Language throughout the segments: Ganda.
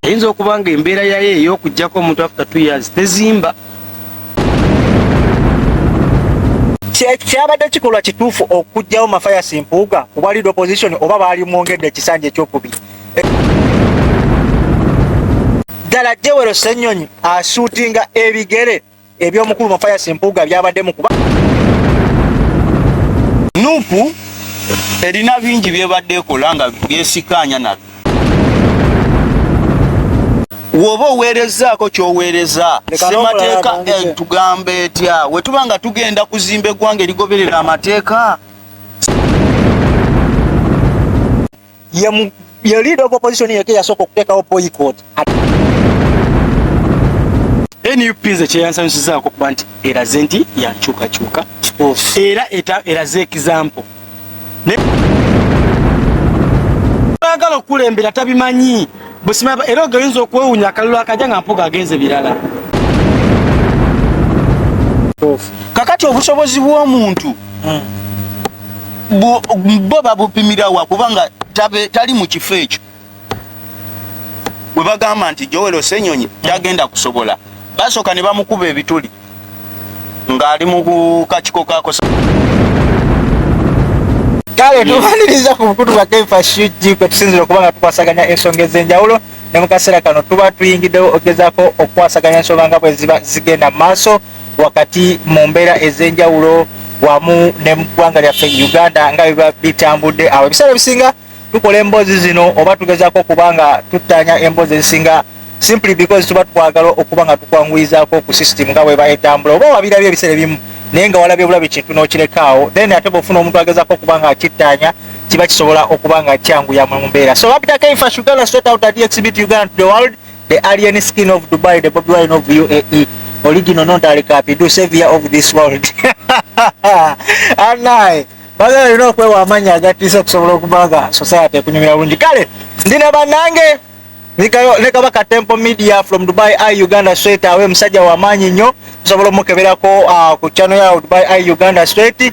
eyinza okuba nga embeera yayo ey'okugyako omuntu after two years tezimba kyabadde kikolwa kituufu okugyawo mafayas mpuuga ku bwa lead opposition oba baali mwongedde ekisanja ekyokubiri ddala jewero senyonyi asuutinga ebigere eby'omukulu Mathias Mpuuga byabadde mu kuba nupu erina bingi byebadde ekola nga byesikaanya nabyo woba oweerezaako kyoweereza semateeka eh, tugamba etya wetuba nga tugenda kuzimba eggwanga erigoberera amateeka ye ye leader of opposition yake yasoko kuteka opo boycott NUP nze kyeyansanyusizaako kuba nti eraze nti yankyukakyuka era eraze ekizampo agala okukulembera tabimanyi busima era ogeyinza okwewunya akalulu akaja nga mpuga agenze birala kakati obusobozi bw'omuntu hmm. bo babupimirawa kubanga tali mu kifo ekyo bwe bagamba nti Joel Osenyonyi tagenda kusobola basooka ne bamukuba ebituli ng'ali mu kakiko kakosa kale tumaliriza ku bukutu bwa kefa shuji kwe tusinzira okuba nga tukwasaganya ensonga ez'enjawulo ne mu kaseera kano tuba tuyingiddewo ogezaako okukwasaganya ensonga nga bwe ziba zigenda mu maaso wakati mu mbeera ez'enjawulo wamu ne mu ggwanga lyaffe uganda nga biba bitambudde awo ebiseera ebisinga tukola emboozi zino oba tugezaako okuba nga tuttaanya emboozi ezisinga simply because tuba twagala okuba nga tukwanguyizaako ku system nga bweba etambula oba wabirabye ebiseera ebimu naye nga walabye bulabi kintu n'okirekaawo then ate bwofuna omuntu agezaako okuba nga akittaanya kiba kisobola okuba nga kyanguya mu mbeera so abitaka infasugala swetout at exhibit uganda to the world The alien skin of Dubai, the Bobi Wine of UAE, original non Darikapi, do savior of this world. And I, bagala olina okwewa amaanyi agatiisa okusobola okuba nga society ekunyumira bulungi kale ndi ne bannange ne kabaka temple media from dubai i uganda straight awe musajja wamaanyi nnyo tusobola omukeberako ah, ku chano ya dubai i uganda straight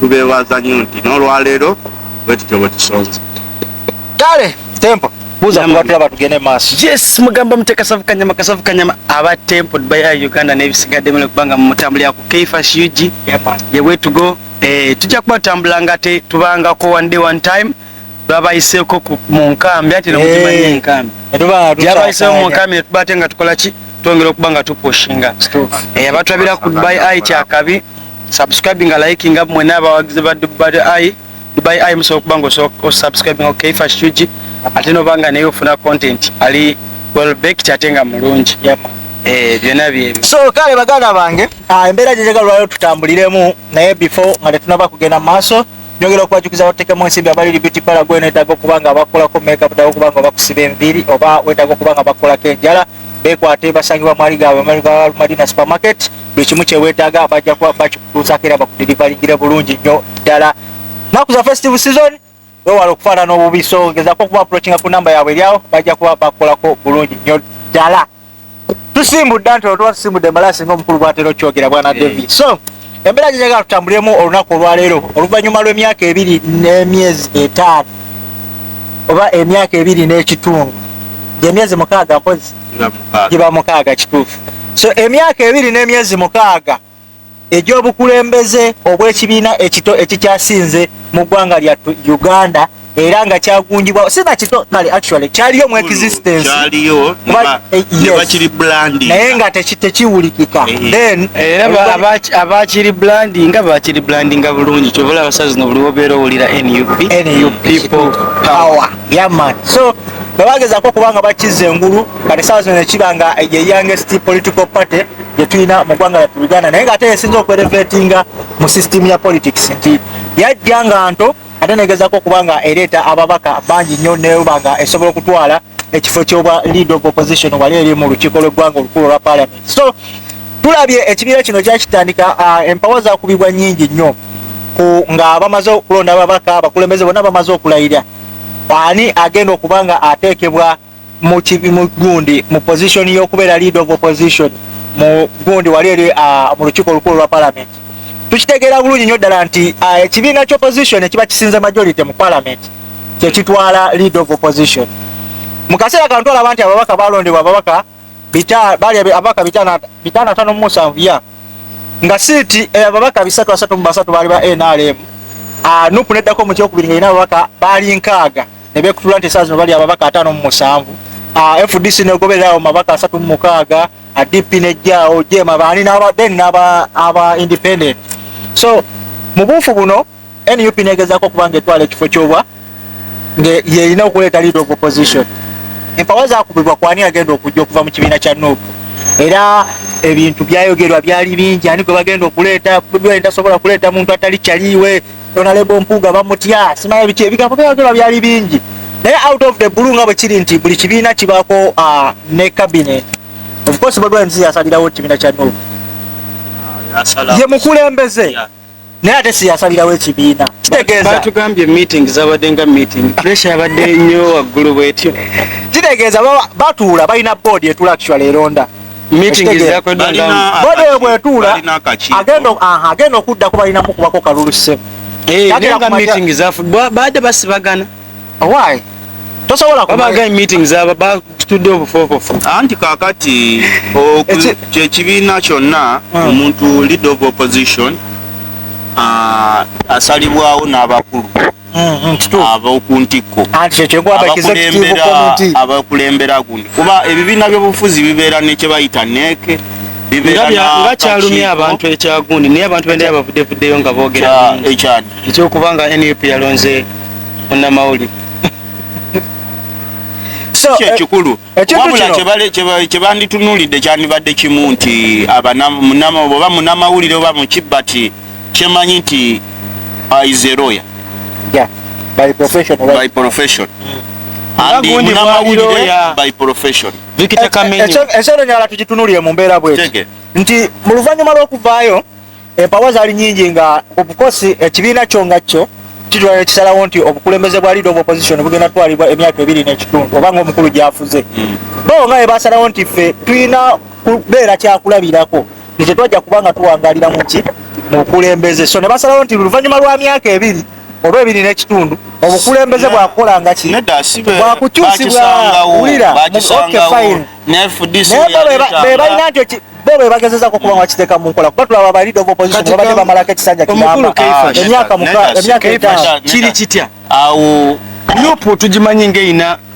tubeewaza nnyo nti n'olwaleero bwe tutyo bwe tusonze kale tempo buza kuba tulaba tugende maaso yes mugamba muteka savu kanyama kasavu kanyama aba tempo baya uganda n'ebisigadde mule kubanga mu mutambuli ya ku kfash ug ye way to go eh, tujja kuba tutambula nga te tubangako one day one time babayiseeko mu nkambi ate nemuzimanyi eh. enkambi yabayiseeko mu nkambi netuba ate nga tukola ki twongera okuba nga tupushinga eh, abatulabira ku dubai ai kyakabi subscribe nga like nga mwena abawagizi ba dubai ai dubai ai musobola okuba nga osubscribe nga okeifa shuji ate noba nga naye ofuna content ali well baked ate nga mulungi Eh, byona byebyo so kale baganda bange ah, embeera gyejagalwayo tutambuliremu naye before nga tetunaba kugenda mu maaso Njogera okubajukiza batekemu ensimbi abali Liberty Para gwe netaaga okuba nga bakolako make up dawo kubanga bakusiba enviiri oba wetaaga okuba nga bakolako enjala bekwate basangibwa mwali gaabwe amalga Madina supermarket buli kimu kyewetaaga bajja kuba bakikutuusaako era bakudirivalingire bulungi nnyo ddala naku za festive season wewala okufaanana obubi so gezako okuba approachinga ku namba yaabwe eryawo bajja kuba bakolako bulungi nnyo ddala tusimbudde anti olwo tuba tusimbudde embalaasi ngaomukulu bwatera okyogera bwana eh. david so embeera gyeyagala tutambulemu olunaku olwaleero oluvannyuma lw'emyaka ebiri n'emyezi etaano oba emyaka ebiri n'ekitundu gyemyezi mukaaga mpozi giba mukaaga kituufu so emyaka ebiri n'emyezi mukaaga egy'obukulembeze obw'ekibiina ekito ekikyasinze mu ggwanga lya Uganda era nga kyagunjibwa sina kito kale actually kyaliyo mu existence kyaliyo eh, ne bakiri branding naye nga tekiwulikika eh. then era abakiri branding nga bakiri branding nga bulungi kyobola abasazi no buli wobeera owulira nup nup people power yaman so bebagezako kubanga bakiza engulu kati saa zino nekiba nga ye youngest political party gyetulina mu ggwanga lyattu uganda naye ngaate yesinza okwerevetinga mu system ya politics nti yajja nga nto ate negezako okuba nga ereeta ababaka bangi nnyo neba nga esobola okutwala ekifo kyobwa lead of opposition wali eri mu lukiiko lweggwanga olukulu olwa parliament so tulabye ekibiira kino kyakitandika uh, empawa zakubibwa nyingi nnyo nga bamaze okulonda ababaka abakulembeze bona bamaze okulayira ani agenda okuba nga ateekebwa mu gundi mu position y'okubeera lead of opposition mu gundi wali eri ah, mu lukiiko olukulu lwa parliament tukitegeera bulungi nyo ddala nti ah, ekibiina ky'opposition ekiba kisinze majority mu parliament kyekitwala lead of opposition mu kaseera kano twalaba nti ababaka balondebwa ababaka bali ababaka bitaano atano mu musanvu ya nga siiti eh, ababaka bisatu asatu mu basatu baali ba nrm ah, nupu neddako mu kyokubiri nga erina ababaka baali nkaaga ne beekutula nti esaazi no bali ababaka ataano mu musanvu ah, fdc negobererawo mabaka asatu mu mukaaga ah, dp nejjaawo jema baani then aba independent so mu buufu buno nup negezako okubanga etwala ekifo kyobwa ngeyerina okuleeta lead of opposition empawa zakubibwa kwani agenda okujja okuva mu kibiina kya nup era ebintu byayogerwa byali bingi ani gwe bagenda okuleeta tasobola kuleeta muntu atali kyaliiwe Honorable Mpuuga bamutya simanya biki ebigambo byayogera byali bingi naye out of the blue nga bwe kiri nti buli kibiina kibaako ah, ne cabinet of course Bobi Wine yasalirawo ekibiina kya Nup ah, ye mukulembeze naye ate siyasalirawo ekibiina kitegeeza batugambye meeting zabadde nga meeting pressure yabadde nnyo waggulu bwetyo kitegeeza batuula balina board etula actually eronda bodoyo bwetuula agenda okuddako balina mukubako kalulu ssebo eh, baade basibagana owaayi tosobola kubaga meeting zaba batudde obufofofu anti kakati kyekibiina kyonna hmm. omuntu lead of opposition ah, asalibwawo n'abakulu mm, mm, ab'oku ntikko abakulembera gundi kuba ebibiina by'obufuzi bibeera ne kye bayita neeke nga kyalumya abantu ekyagundi naye abantu benda yabavudevuddeyo nga boogera ekyokuba nga nup yalonze munnamawulire kyekikulu eh, eh, wabula kyebanditunulidde kyandibadde kimu nti oba munamawulire oba mukibbati kyemanyi nti is a lawyer yeah by profession right? by profession and munamawulire by profession vikita kamenyo ekyo ekyo nyala tujitunulire mu mbera bwe nti mu luvanyuma lw'okuvaayo empawa zali nyingi nga obukosi ekibiina kyo nga kyo kitwala ekisalawo nti obukulembeze bwa leader of opposition bugenda twalibwa emyaka ebiri n'ekitundu oba nga omukulu gyafuze hmm. bo nga ebasalawo nti ffe tulina kubeera kyakulabirako nti tetwajja kuba nga tuwangalira muki mukulembeze so ne basalawo nti luvannyuma lwa myaka ebiri oba ebiri n'ekitundu obukulembeze bwakukola nga ki bwakukyusibwawulira bebalina nti bo bebagezezako okuba nga bakiteeka mu nkola kuba tulaba balida of opposition babadde bamalako ekisanja kiyamba emyaka emyaka etaano kiri kitya awo nupu tugimanyi ngaeyina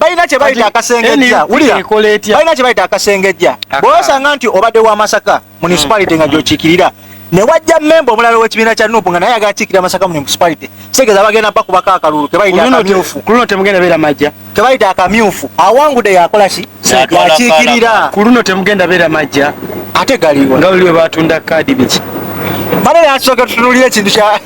balina kyebayita akasengejja balina kyebayita akasengejja bwosanga nti obadde wa masaka municipality nga gyokiikirira ne wajja memba omulala ow'ekibiina kya nupu nga naye agala kiikirira masaka municipality kitegeeza bagenda bakubako akalulu kebayita akamyufu kuluno temugenda beera majja kebayita akamyufu awangude yakola ki yakiikirira ku luno temugenda beera majja ate galiwa nga waliwe batunda kaadi biki bale nakisoka tutunulira ekintu kya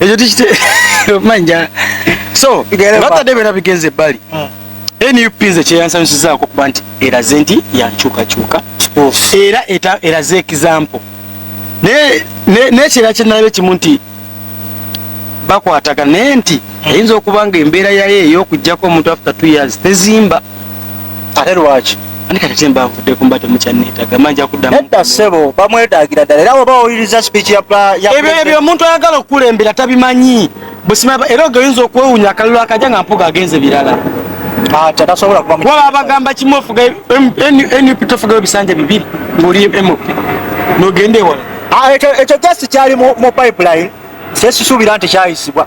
ekyo tikiteomanja so batadde byona bigenze ebbali hmm. nup nze kyeyansanyusizaako okuba nti eraze nti yankyukakyuka oh. era eraze ekizampo nekyera kyenalabe kimu nti bakwatagana naye nti hmm. eyinza okuba nga embeera yayo eyokujjako omuntu after two years tezimba ate lwaki ani kati temba nvudde kumba temukyanneetaga manja kuddamu nedda ssebo bamwetaagira ddala era oba owuliriza speech ya ebyo ebyo omuntu ayagala okukulembera tabimanyi busima era oge oyinza okwewunya akalulu akaja nga mpuga agenze birala waba abagamba kimu ofuga nup tofugayo bisanja bibiri ngaoli mop nogenda ewala ah, ekyo just kyali mu pipeline sesisuubira nti kyayisibwa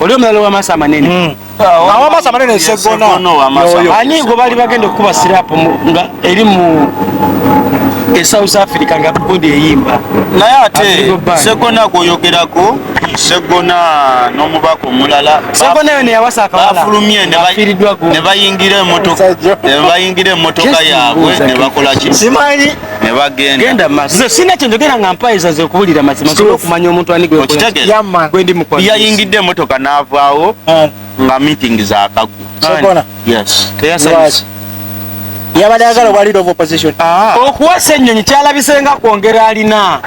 oli omulala wamaaso amanene hmm. ah, awamaaso amanene esegonaani gwe baali bagenda okukuba sirapu nga eri mu e south africa nga bodi eyimba naye ate segona gwoyogerako segona n'omubaka omulala segona yo neyawasa akawalabafulumye ne bayingira emotoka yaabwe ne bakola ki nebagenda nze sina kyendogera nga mpayiza nze okuwulira mazima nsobola okumanya omuntu anigweyayingidde emotoka navaawo ah. nga meeting zakagwa yabadde agala obwaliro of opposition ah. okuwasa ennyonyi kyalabise nga kwongera alina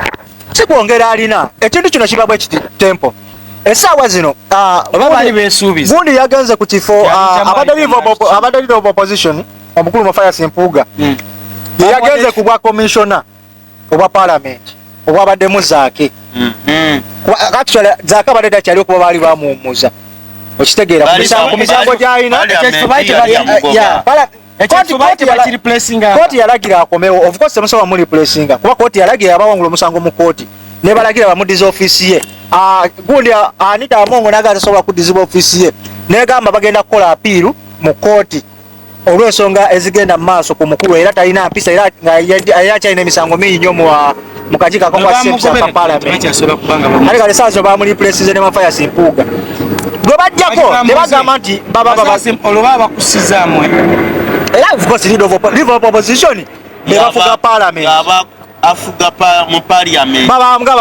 si kwongera alina ekintu kino kiba bwe kiti tempo esaawa zino ah, oba bali besuubiza gundi yagenze ku kifo abadde leader of opposition omukulu Mathias Mpuuga hmm. yeyagenze ku bwa commissioner obwa parliament obwabaddemu zaake hmm. Hmm. actually zaake abadde dakyali okuba baali bamuwumuza okitegeera ku misango gyalina kooti yalagira akomewo ofcourse temusobola muliplacinga kuba kooti yalagira yabawangula omusango mu kooti nebalagira bamudiza ofisi ye ah, gundi ah, anita amongo naga tasobola kudizibwa ofisi ye negamba bagenda kukola apiiru mu kooti olw'ensonga ezigenda mu maaso ku mukulu era talina mpisa era akyalina emisango mingi nyo mu kakiiko akakwasaka palamenti kale kale saazo bamulipulesize ne mafayasi mpuuga gwe bajjako ne bagamba nti olwoba bakusizaamu era ofcourse live of opposition ne bafuga palamenti afuga mu parliament babanga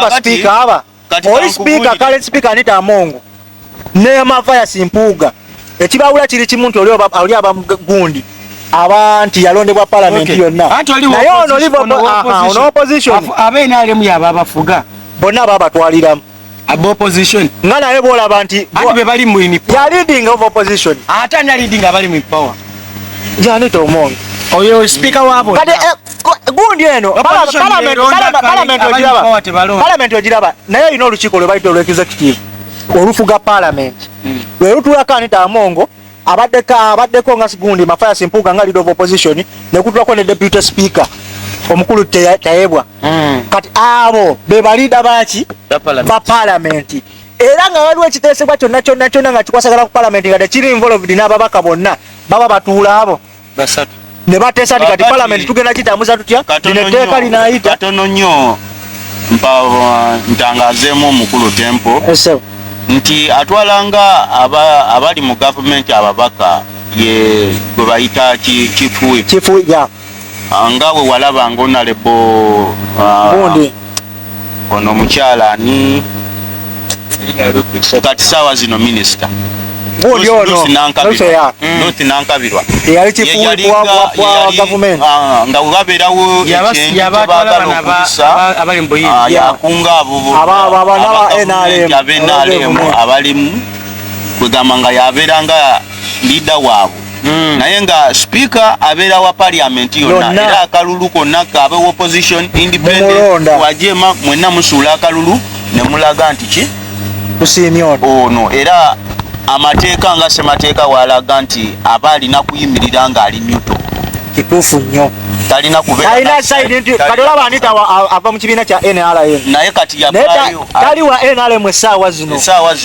ba speaker aba oli sipiika kale sipiika anita amongo ne mavayasi mpuuga ekibawula kiri kimu nti oli aba gundi aba nti yalondebwa palamenti yonna naye ono olivoono opposition abe nrm yaba abafuga bonna babatwaliramu aba opposition nga naye bwolaba nti ati be bali mu in power ya leading of opposition ate ana leading abali mu power janita omongo oyo sipiika wabo kati eh, gundi eno palamenti ogiraba naye olina olukiiko lwebayita olw executive olufuga palamenti hmm. lwelutulako anita amongo abaddeko abaddeko nga gundi mafayasi mpuuga nga leader of opposition nekutulako ne deputy speaker omukulu tayebwa hmm. kati abo bebalida baki ba palamenti era nga waliwo ekiteesebwa kyonna kyonna kyonna nga kikwasagala ku palamenti nga tekiri involved n'ababaka bonna baba batuula abo basatu ne bateesa nti kati palamenti tugenda kitambuza tutya lino etteeka linaayita katono nnyo mpa uh, ntangazeemu omukulu tempo eh, nti atwalanga abali mu gavumenti ababaka ye gwe bayita kifuwi ah, nga we walaba nga onalebo uh, Ono omukyala ani? Kati saawa zino minisita gundi ono Ruth Nankabirwa mm. eyali kifuuwe kwa gavumenti ah, nga webabeerawo ekyentebagala okuyisa ah, yakunga aboboabenalemu abalimu kwegamba nga yabeera nga liida waabwe Mm. naye nga speaker abeera wa parliament yonna era akalulu konna kaabe wa opposition independent wajema mwenna musuula akalulu ne mulaga nti ki ono era amateeka nga semateeka waalaga nti aba alina kuyimirira ng'ali nyuto kituufu nnyo talina kubeera ava mu kibiina kya nrm naye kati yatali wa nrm essaawa zino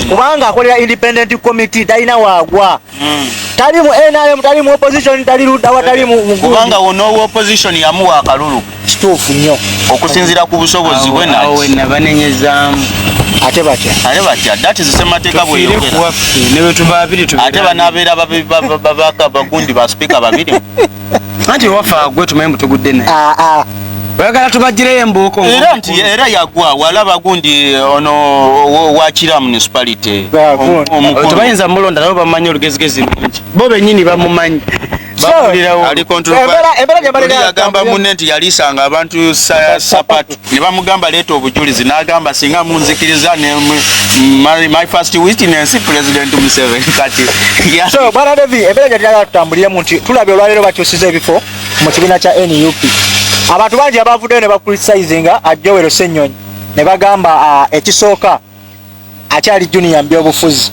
kubanga akolera independent committee talina waagwa mm. tali mu nrm tali mu opposition tali ludda watali mukubanga wona owa opposition yamuwa akalulu kituufu nnyo okusinzira ku busobozi bwe nabanenyezaamu ate batya ate batya that is semateeka bweyogera ate banabeera bagundi ba sipiika babiri anti ewaffe agwe tumanyi mutugudde naye ah, ah. oyagala tubagireyo embuuko era nti era yagwa walaba gundi eh, ono wakira municipality tebayinza mulonda nabo bamanyi olugezigezi lungi bo benyini bamumanyi embeera gyebaliragamba munne nti yalisanga abantu sapatu ne bamugamba leeta obujulizi n'agamba singa munzikiriza ne my, my first witness president museveni kati so bwana levi embeera gyati yagala tutambuliremu nti tulabye olwaleero bakyusiza ebifo mu kibiina kya nup abantu bangi abavuddeyo ne bakulisisayizinga ajjowero ssennyonyi ne bagamba ah, ekisooka akyali junior mbyobufuzi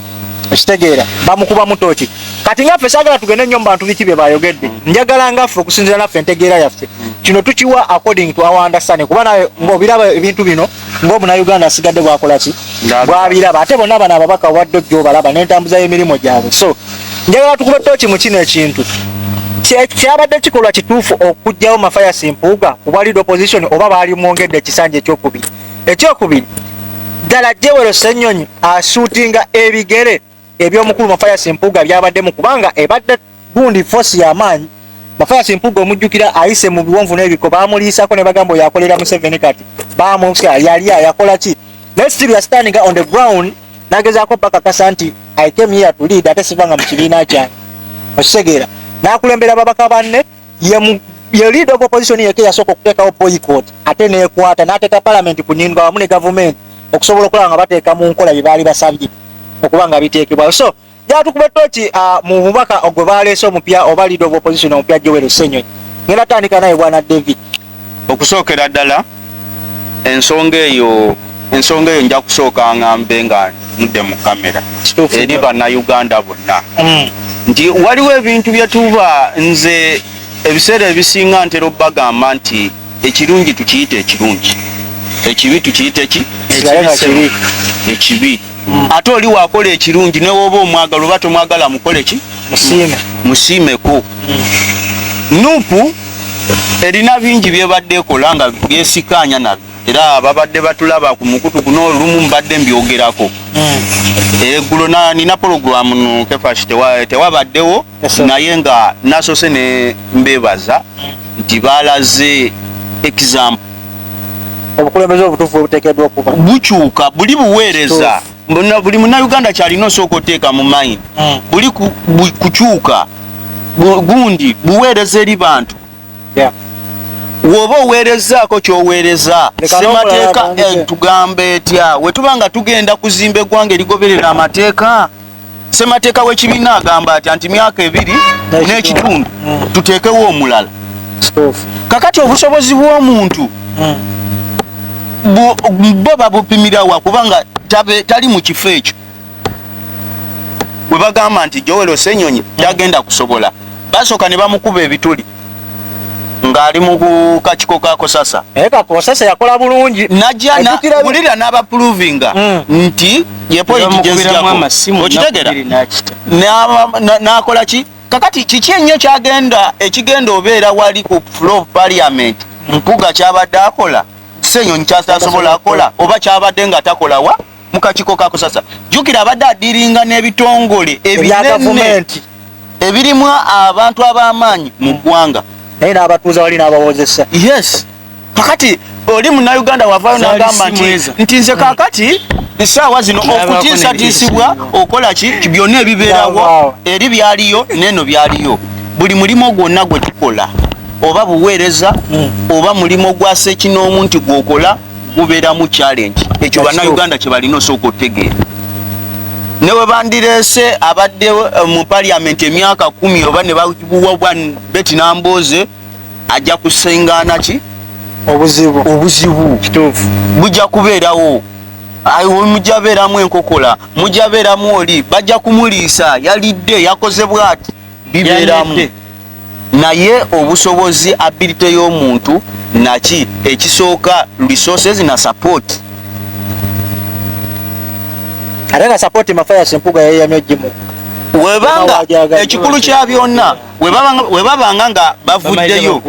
ekitegeera bamukuba mutoki kati ngaffe sagala tugende nyo mubantu biki byebayogedde mm. njagala ngaffe okusinzira naffe entegeera yaffe mm. kino tukiwa according to our understanding kuba nawe ngaobiraba ebintu bino ngaomunauganda asigadde bwakolaki bwabiraba ate bonna bano ababaka obadde ojja obalaba nentambuza yemirimu gyabwe so njagala tukube toki mu kino ekintu kyabadde kikolwa kituufu okugjawo mafayasi mpuuga kuba lead opposition oba baali mwongedde ekisanja ekyokubiri ekyokubiri ddala jewero senyonyi asuutinga ebigere ebyomukulu mafayas mpuuga byabaddemu kubanga ebadde gundi fosi yamaanyi mafayas mpuuga omujjukira ayise mu biwonvu n'ebiko bamuliisako ne bagamba oyo akolera museveni kati bamutya yali ayakola ki naye still yastandiga on the ground nagezaako bakakasa nti i came here to lead ate sivanga mu kibiina kyange okitegeera nakulembera babaka banne yemu ye leader of opposition yeke yasooka okuteekawo boycott ate neekwata n'ateeka palamenti kunindwa wamu ne gavumenti okusobola okulaba nga bateeka mu nkola bye baali basabye okuba nga biteekebwayo so jatukuba toki ah, mu bubaka ogwe baleese omupya oba leader of opposition omupya joel senyonyi ngenda tandika naye bwana david Okusookera ddala ensonga eyo ensonga eyo nja kusooka ngambe nga mudde mu kamera eri bannayuganda bonna hmm. nti waliwo ebintu bye tuba nze ebiseera ebisinga ntera okubagamba nti ekirungi tukiyita ekirungi ekibi tukiyite ki ekibi mm. ate oli wakola ekirungi newoba omwagala oba tomwagala mukole ki musiimeko mm. nupu erina bingi byebadde ekola nga byesikaanya nabyo era babadde batulaba ku mukutu guno olumu mbadde mbyogerako mm. eggulo nina pologulamu nukefashitewabaddewo naye nga nasose ne mbebaza nti balaze example obukulembeze obutufu obutekedwa okuba bukyuka buli buweereza buli munauganda kyalina osooka oteeka mu mind hmm. buli kukyuka gundi buweereza eri bantu woba oweerezaako kyoweereza semateeka eh, tugambe etya wetuba nga tugenda kuzimba eggwanga erigoberera amateeka ssemateeka w'ekibiina agamba atya nti myaka ebiri n'ekitundu mm. tuteekewo omulala kakati obusobozi bw'omuntu mm. bo babupimirawa kubanga tali mu kifo ekyo bwe bagamba nti jowelo senyonyi tagenda kusobola basooka ne bamukuba ebituli ng'ali mu kakiko ka kosasa naye kakosasa yakola bulungi najja wulira n'abapuluvinga hmm. nti yepoyitigyezijako n'akola ki kakati kiki ennyo kyagenda ekigenda obeera wali ku flo of parliament mpuga kyabadde akola senyonyi kyasasobola akola oba kyabadde nga takolawa mu kakiiko ka kusasa jjukira abadde adiringa n'ebitongole ebinene ebirimu abantu ab'amaanyi mu ggwanga naye n'abatuuza wali n'abawozesa yes kakati oli munauganda wavayo nagamba nti nti nze kakati esaawa zino okutiisatiisibwa okola ki byonna ebibeerawo eri byaliyo neeno byaliyo buli mulimu gwonna gwe tukola oba buweereza hmm. oba mulimu gwa sekinoomu nti gwokola guberamu challenge ekyo bana Uganda kye balina osooka otegeera ne bwe bandireese abadde eh, mu parliament emyaka kumi oba ne babuwa bwa beti nambooze ajja kusengaana ki obuzibu obuzibu kituufu bujja kubeerawo mujja beeramu enkokola mujja beeramu oli bajja kumuliisa yalidde yakoze bwati bibeeramu naye obusobozi ability y'omuntu naki ekisooka resources na support ate nga support mafayasi empuga yeyamya gimu webanga ekikulu kya byonna webabanga nga bavuddeyo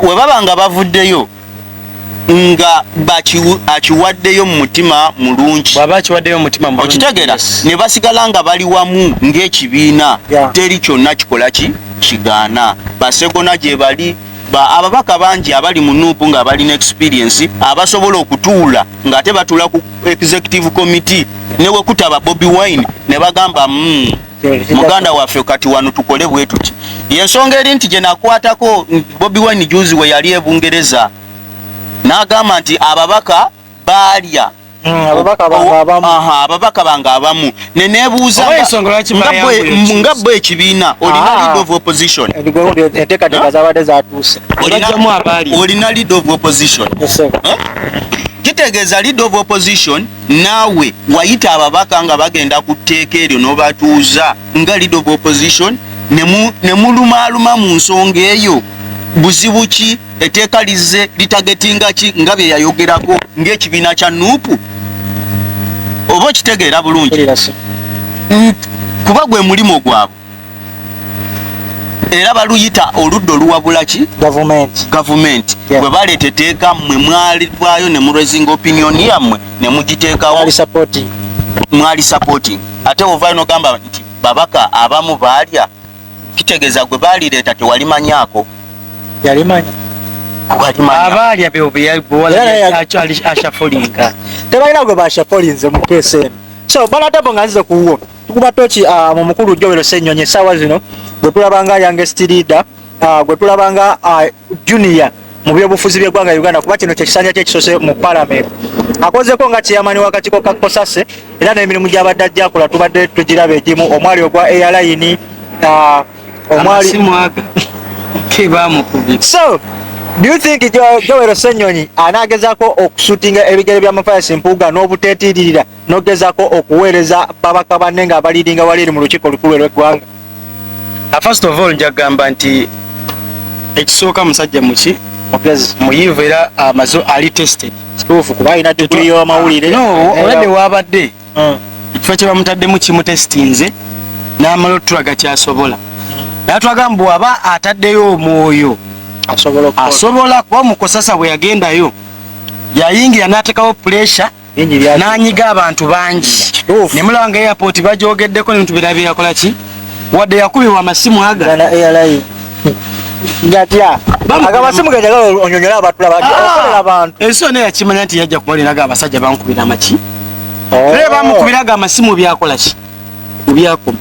webabanga bavuddeyo nga akiwaddeyo mu mutima mulungi okitegera ne basigala nga bali wamu ng'ekibiina teri kyonna kikola ki kigaana basegona gye bali ababaka bangi abali mu nuupu nga balina experiensi abasobola okutuula ng'ate batuula ku executive committee ne wekutaba bobi wine ne bagamba mm, muganda waffe kati wano tukole bwe tuti yensonga eri nti gyenakwatako bobi wine juzi we yali ebungereza n'agamba nti ababaka baalya hmm, ababaka bange abamu nenebuuza nga bwe ekibiina olina ah. lead of opposition olina lead of opposition kitegeeza lead of opposition Naawe wayita ababaka nga bagenda ku tteeka eryo n'obatuuza nga leader of opposition ne mulumaaluma mu nsonga eyo? Buzibu ki? Etteeka lizze litagetinga ki nga bye yayogerako ng'ekibiina kya nup? Oba okitegeera bulungi? Kuba gwe mulimu gwabwe. era baluyita oludda oluwabula ki gavumenti bwe baleeta eteeka mmwe mwalivaayo ne murezinga opinioni yammwe ne mugiteekawo mwali supporting ate ovaayo nogamba nti babaka abamu baalya kitegeeza gwe baalireeta tewalimanyaako abaalya beobeashafolinga tebalina gwe bashafolinze mukeesi eno so banadabo nga nzize kuwuwo tukuba toki ah, mu mukulu Joel Ssenyonyi essaawa zino gwe tulabanga youngest leader ah, gwe tulabanga ah, junior mu byobufuzi by'eggwanga Uganda kuba kino kyekisanja kyekisose mu palamenti akozeko nga kiyamani wakatiko ka kosase era n'emirimu gy'abadde ajja akola tubadde tugiraba egimu omwali ogwa airline omwali so do you think Joel Ssenyonyi anaagezako okusutinga ebigere by'amafayasi mpuuga n'obuteetiiririra nogezako okuweereza babaka banne nga abaliidinga wali eri mu lukiiko olukulu elweggwanga ah, first of all njagamba nti ekisooka musajja muki mugezi muyivu era amazo ah, ali tested kituufu kuba alina diguli y'amawulire no olabye waabadde hmm. ekifo kye bamutaddemu kimutesitinze n'amala otulaga kyasobola hmm. naye twagamba bwaba ataddeyo omwoyo asobola kuba mukusasa bwe yagendayo yayingira n'atekawo puresha n'anyiga abantu bangi ne mulaba nga airport bagyogeddeko nebintu birabe yakola ki wadde yakubibwa amasimu aga gatya agamasimu gajagala onyonyola abatulaba ah! abantu ensi yona yakimanya nti yajja kubalinaga abasajja bankubira amaki oh. naye bamukubiraga amasimu byakola ki kubyakoma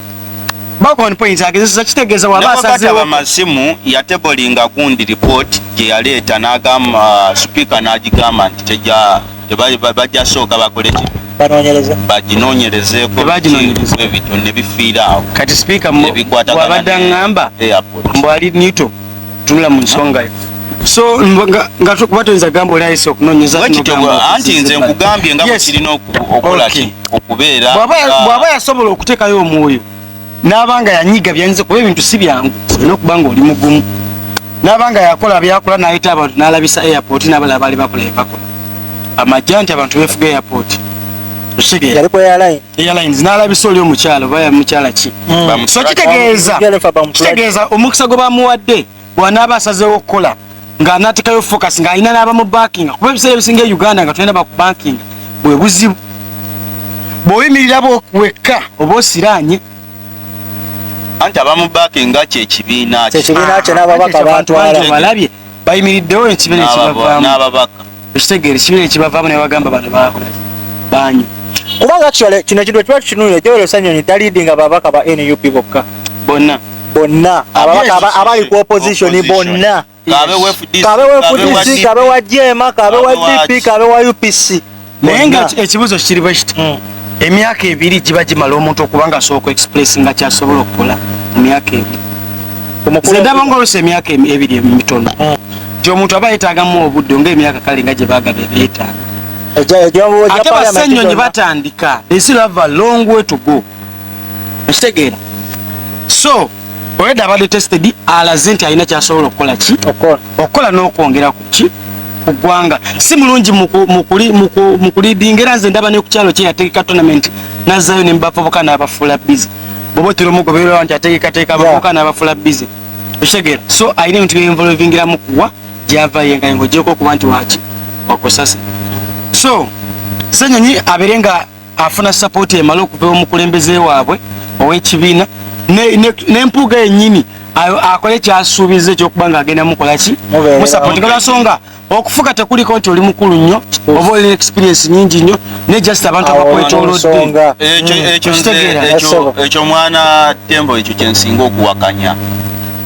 Background points agezesa kitegeeza waba asazeewo waba amasimu ya tebolinga gundi report gye yaleeta n'agamba uh, sipiika n'agigamba nti tegya bajja sooka bakole ki baginonyerezeeko ebitone bifiira awo kati sipiika wabadde aŋŋamba mbwali newton tunula mu nsonga yo so nga tukuba tuyinza gamba oli ayise okunonyeza anti nze nkugambye nga bwekirina okolaki okubeera bw'aba yasobola okuteekayo omwoyo n'abanga yanyiga byanyiza kuba ebintu si byangu olina okuba nga oli mugumu n'abanga yakola byakola n'ayita abantu n'alabisa airport n'abala abaali bakola byebakola amajja nti abantu befuga airport okitegee airlines n'alabisa oli omukyala oba ya mukyala ki hmm. so kitegeeza kitegeeza omukisa gwe bamuwadde bw'anaaba asazeewo okukola ng'anaatekayo focus ng'alina n'aba mu bankinga kuba ebiseera ebisinga e uganda nga tulina baku bankinga bwe buzibu bw'oyimirira wekka oba osiraanye anti abamu bankinga kyekibiina kyekibiina kye n'ababaka bantwala balabye bayimiriddewo ekibiina ekibavaamu ekitegeere kino ekibavaamu ne bagamba bano bakola banyu kubanga actually kino ekintu ekiba tukinuulira joel osanyonyi talidi nga babaka ba nup bokka bonna bonna ababaka abali ku opposition bonna kabe wefudc kabe wa jema kabe wa dp kabe wa upc naye nga ekibuzo kiri bwekiti hmm. emyaka ebiri giba gimala omuntu okuba nga asobola okuexpress nga kyasobola okukola mu myaka ebiri omukundaba nga olusa emyaka ebiri emitono hmm. ti omuntu aba yetagamu obudde nga emyaka kale nga gyebagaba ebyetaaga ate basenyonyi batandika they still have a long way to go okitegeera so olwedda abadde tested alaze nti alina kyasobola okukola ki okukola n'okwongera ku ki ku ggwanga si mulungi mu kulidinga era nze ndaba ne ku kyalo kye yategeka tonament nazzayo ne mubavubuka n'abafuula bizi bwoba otera omugobererawo nti ategekateeka abavubuka n'abafuula bizi okitegeera so alina ebintu byenvolvingiramu kuwa gyava ye nga ng'ogyeko okuba nti waki wakusasa so senyonyi abeere nga afuna sapooti emala okuva omukulembeze waabwe ow'ekibiina n'empuuga yennyini akole kyasuubiza ekyokuba nga agenda mukola ki musapooti nga lwasonga okufuga tekuliko nti oli mukulu nnyo oba olina experience nyingi nnyo ne just abantu abakwetoloddeekyo mwana tembo ekyo kyensinga okuwakanya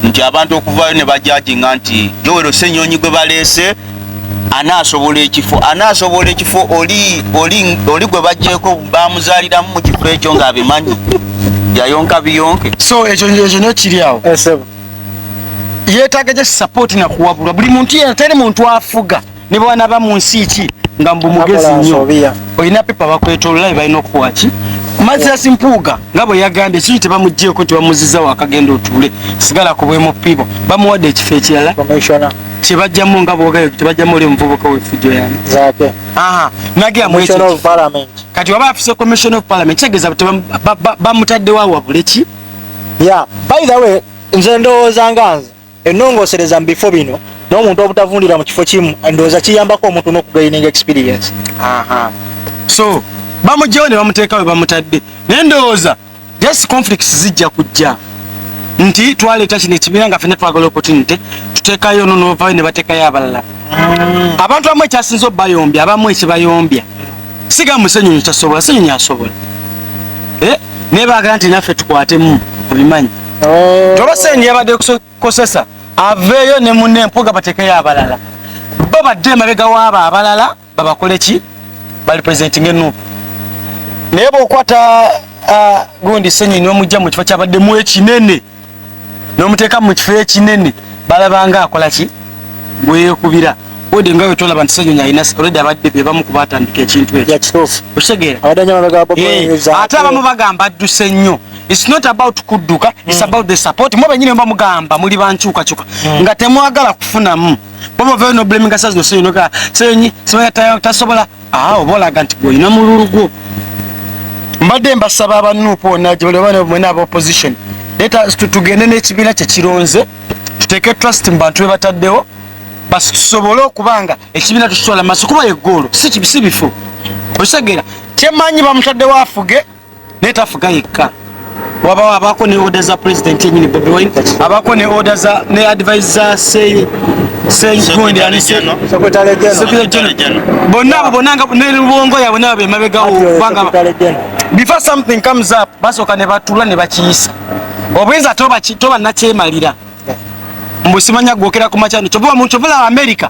nti abantu okuvayo ne bajajinga nti jowero senyonyi gwe baleese anaasobola ekifo anaasobola ekifo oli oli oli gwe bajjeeko bamuzaaliramu mu kifo ekyo ng'abimanyi yayonka biyonke so ekyo ekyo nyo kiri awo eh, yeetaaga gye sapooti nakuwabulwa buli muntu yena teri muntu afuga ne bwana ba mu nsi ki nga mbu mugezi nnyo olina pepa bakwetolola balina okukuwa ki mazasi mpuuga nga bwe yagambye kiri tebamugjeeko tebamuziza wakagenda otuule sigala ku bwemupibo bamuwadde ekifo ekirala kyebajjamu nga bwogayo tebajjamu oli omuvubuka wefujjo yani kati waba afise commission of parliament kitegeeza bamutaddewo awabule ki ya by the way nze ndowooza nga nze enongosereza mu bifo bino n'omuntu obutavundira mu kifo kimu ndowooza kiyambako omuntu n'okugaining experience so bamugyewo ne bamuteekawe bamutadde naye ndowooza just conflicts zijja kujja nti twaleeta kino ekibiina nga fena twagala opportunity tuteekayo ono novayo ne bateekayo abalala mm. abantu abamu ekyasinza obayombya abamu ekibayombya siga musenyonyi kyasobola senyonyi asobola eh? naye bagala nti naffe tukwatemu obimanyi oh. toba senyonyi yabadde kusokosesa aveeyo ne mune mpuga bateekayo abalala bo badde emabega waabo abalala babakole ki bali president nge nup naye bwokwata uh, gundi senyi nomujja mu kifo kyabadde mu ekinene nomuteeka mu kifo ekinene balabanga akola ki gweyekubira ode nga wetolaba nti senyonyi alina oledi abadde bebamu kuba atandika ekintu ekyokutegeeraate eh, abamu bagamba adduse nnyo its not about kudduka its mm. about the support mwe benyini bamugamba muli bankyukakyuka mm. nga temwagala kufunamu oba ovayo nobulaminga sa zino senyonyi nogaa senyonyi sibaya tasobola aa oba olaga nti gweolina mululu gwo mbadde mbasaba abanuupu wonna gyebalibamwena aba opposition leta tugende n'ekibiina kyekironze tuteeke trust mu bantu bebataddewo basi tusobole okuba nga ekibiina tukitwala maaso kuba yegoolo si bifu okitegeera kyemanyi bamutaddewo afuge naye tafuga yekka wabawo abaako ne oda za pulezidenti yenyini bobi wine abaako ne oda za ne advise za sey bonna abo bonna nga ne lubongo yabwe nabo bemabegawo kubanga before something comes up basooka ne batula ne bakiyisa obuyinza toba nakyemalira mbusimanya gwokera ku makyano kyova mu kyova la america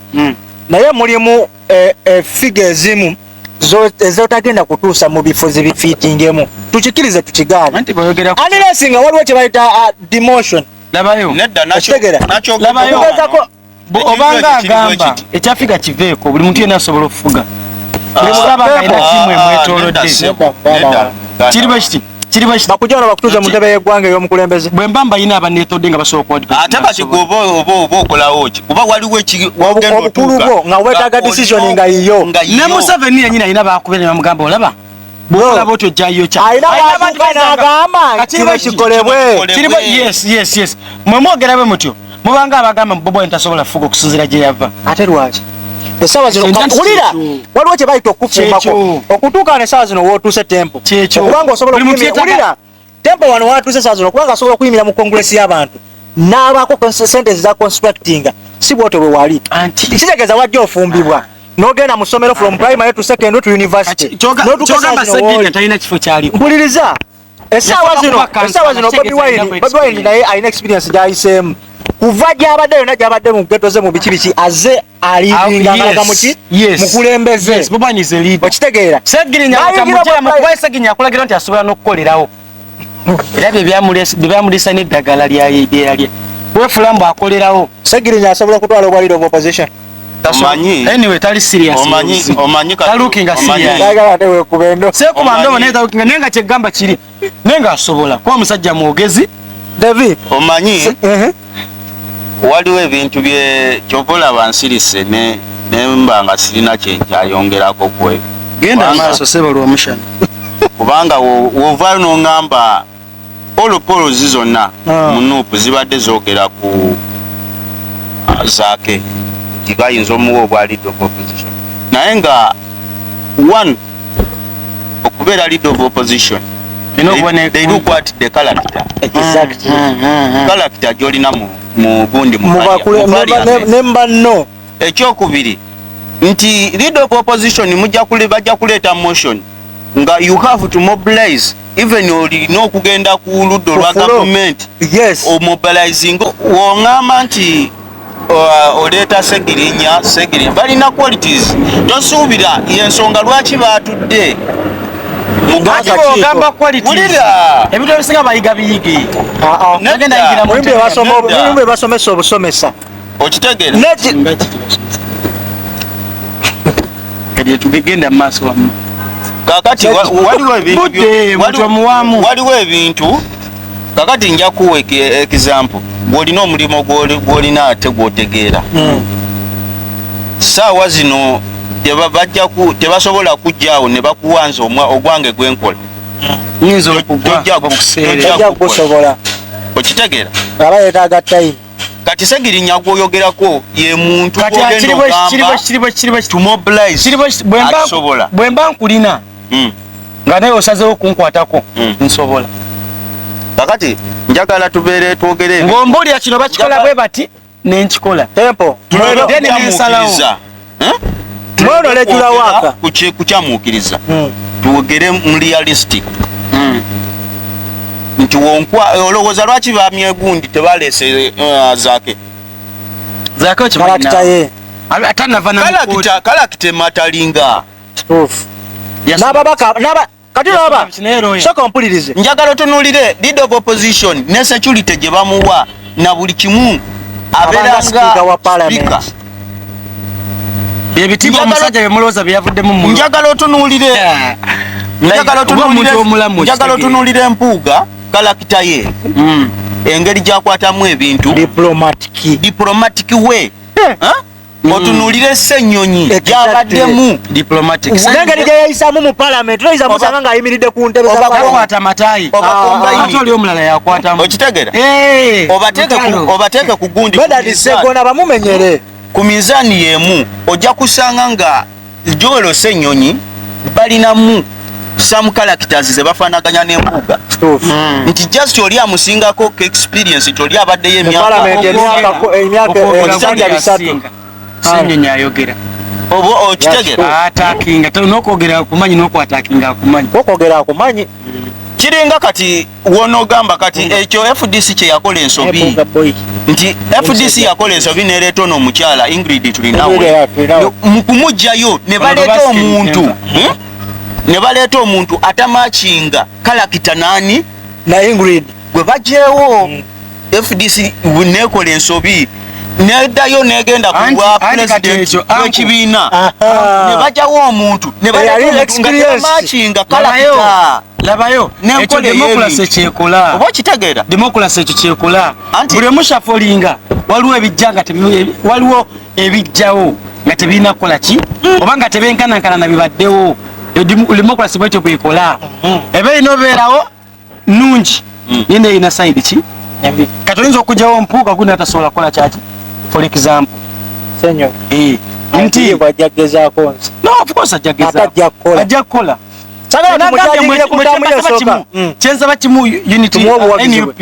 mm. naye mulimu eh, eh, figa ezimu ezotagenda kutuusa mu bifo zibifiitingemu tukikirize tukigaane anilesi nga waliwo kyebayita uh, demotion labayoogezako obanga agamba ekyafiga kiveeko buli muntu yena asobola okufuga ah, kiri bwe kiti kiri bwe bakujana bakutuza mu ntebe y'eggwanga ey'omukulembeze bwe mba mbalina abanneetodde nga basooka ate kati gwoba oba oba okolawo ki kuba waliwo obukulu bwo nga weetaaga decision nga yiyo ne museveni yenyini alina baakube ne bamugamba olaba bwolaba otyo ojjayo kyaagamba nti kino kikolebwe mwe mwogera bwe mutyo mubanga abagamba bobo wine tasobola kufuga okusinzira gye yava ate lwaki esawa zino kakulira waliwo kye bayita okukufumbako okutuuka ne sawa zino wootuuse tempo okubanga osobola okukulira tempo wano watuuse sawa zino okubanga asobola okuyimira mu kongulesi y'abantu n'abaako sente eza constructinga si bwotyo bwe wali kitegeeza wajja ofumbibwa ah. nogenda mu ssomero from primary to secondary to university kyogamba saginya talina kifo kyaliko mpuliriza essaawa zino essaawa zino bobi wine bobi wine naye alina experience gyayiseemu kuva gyabadde yona gyabadde mu geto ze mu biki biki aze alibinganaga muki mukulembeze okitegeera akulagira nti asobola n'okukolerawo era byebyamulisa n'eddagala lyeyalye wefula mbu akolerawo segirinya asobola okutwala obwaliro mu opposition omanyi anyway tali serious omanyi omanyi ka looking a serious ndagala ne wekubendo se ku bando ne ta looking nenga che gamba kiri nenga asobola kwa musajja muogezi david omanyi eh eh waliwo ebintu bye kyovola bansirise ne ne mbanga sirina kye nkyayongerako kwe genda maaso sebo lwomushana kubanga wovaayo nongamba Polo Polo zi zonna ah. mu nuupu zibadde zogera ku ah, zaake nti bayinza omuwa obwa lead of opposition naye nga one okubeera lead of opposition they look what the character character gyolina mu gundi mubakulemba ne mbanno ekyokubiri nti leader of opposition mujja kule bajja kuleeta motion nga you have to mobilize even olina okugenda ku ludda olwa gavumenti yes. omobilizing wongamba nti uh, oleeta segirinya segirinya balina qualities tosuubira yensonga lwaki batudde ogamba ebintu ebisinga bayiga biyige basomesa obusomesa okitegera tugegenda mumaaso wamu kakati waliwo ebintu kakati nja kuwa ekizampu gwolina omulimu gwolina ate gwotegeera hmm. saawa zino tebasobola kujjaawo ne bakuwanza ogwange gwenkola hmm. okitegera aba yetaga tayi kati segirinya gwoyogerako ye muntu bwemba nkulina hmm. nga naye osazewo okunkwatako hmm. nsobola kakati njagala tubeere twogere ng'ombuulira kino bakikola bwe bati nenkikola tempo mwena okutamukiriza mwono lejula waka kukyamukiriza hmm. tuwogere mu realistic hmm. nti wonkwa olowooza lwaki bamye gundi tebaleese eh, zake zake okimanyi atanava na kalakita kalakita ematalinga n'ababaka kati laba soka ompulirize njagala otunulire leader of opposition ne security gye bamuwa na buli kimu abeera nga wa palamenti byebitiibwa omusajja byemulowooza byeyavuddemu mu njagala otunuulire njagala otunuulire empuuga kalakita ye hmm. engeri gyakwatamu ebintu diplomatic way eh. Mm. otunulire ssenyonyi gyabaddemu nengeri gyeyayisamu mu palamenti toyinza musanga ngaayimiridde ku ntebe obakwata matayi ah. oli omulala yakwatamu okitegera eh, obateeke ku gundi bamumenyere ku minzaani yemu ojja kusanga nga joel senyonyi balinamu some characters zebafanaganya nembuga hmm. nti just oli amusingako experience nti oli abaddeyo emyakaoyogera oba okitegeraokwogera kumanyi nokwatakinga kumanyi kiringa kati wonogamba kati ekyo fdc kyeyakola ensobi nti fdc yakola ensobi neleeta ono omukyala ingrid tulinawe mukumugjayo nebaleeta omuntu hmm? nebaleeta omuntu atamakinga kalakita nani na ingrid gwe bajewo hmm. fdc nekola ensobi nedayo negenda kubwa president wekibiina ah, ah. nebajawo omuntu nebaekinga kalaa labayo ekyo demokulasi ekyekola oba okitegeera demokulasi ekyo kyekola buli omushafolinga waliwo ebijja nga waliwo ebijjawo nga tebirina kukola ki hmm. oba nga tebenkanankana na bibaddewo demokulasi bwekyo bwekola hmm. ebe ino obeerawo nungi mm. naye naye erina sayidi ki kati oyinza okugyawo mpuuga guli natasobola kukola kyaki for example senyo eh, nti ajja kugezaako nsi no of course ajja kugezaako ajja kukola kyensaba kimu unity nup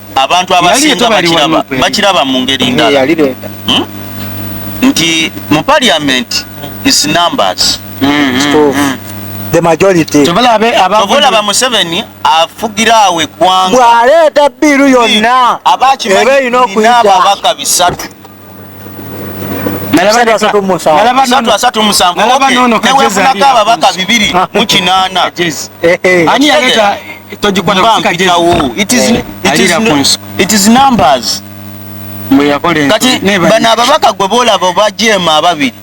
abantu abasinga bakiraba bakiraba mu ngeri eh, ndala hmm? nti mu parliament is numbers tovolaba museveni afugira awo eggwanga bwaleeta biiru yonna aba akimanyi ababaka bisatu newefunako ababaka bibiri mukinaana kati bano ababaka gwe boolaba obajeema ababiri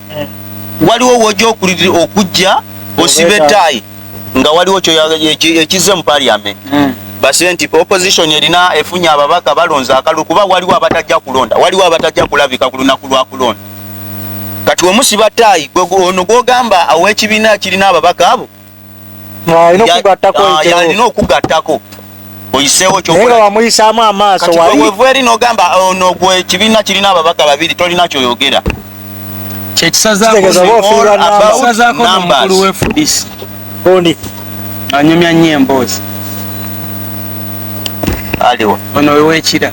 waliwo woja okulirira okujja osiba ettaayi nga waliwo ekizze mu parliament hmm. base nti opposition erina efunye ababaka balonze akalulu kuba waliwo abatajja kulonda waliwo abatajja kulabika ku lunaku lwa kulonda kati wemusiba ttaayi ono gwogamba awekibiina kirina ababaka abo yalina okugattako oyiseewo kyonaye wamuyisaamu amaaso wevu eri nogamba oh, ono gwe ekibiina kirina ababaga babiri tolina kyoyogera anyumya nyo emboozi ono wewekira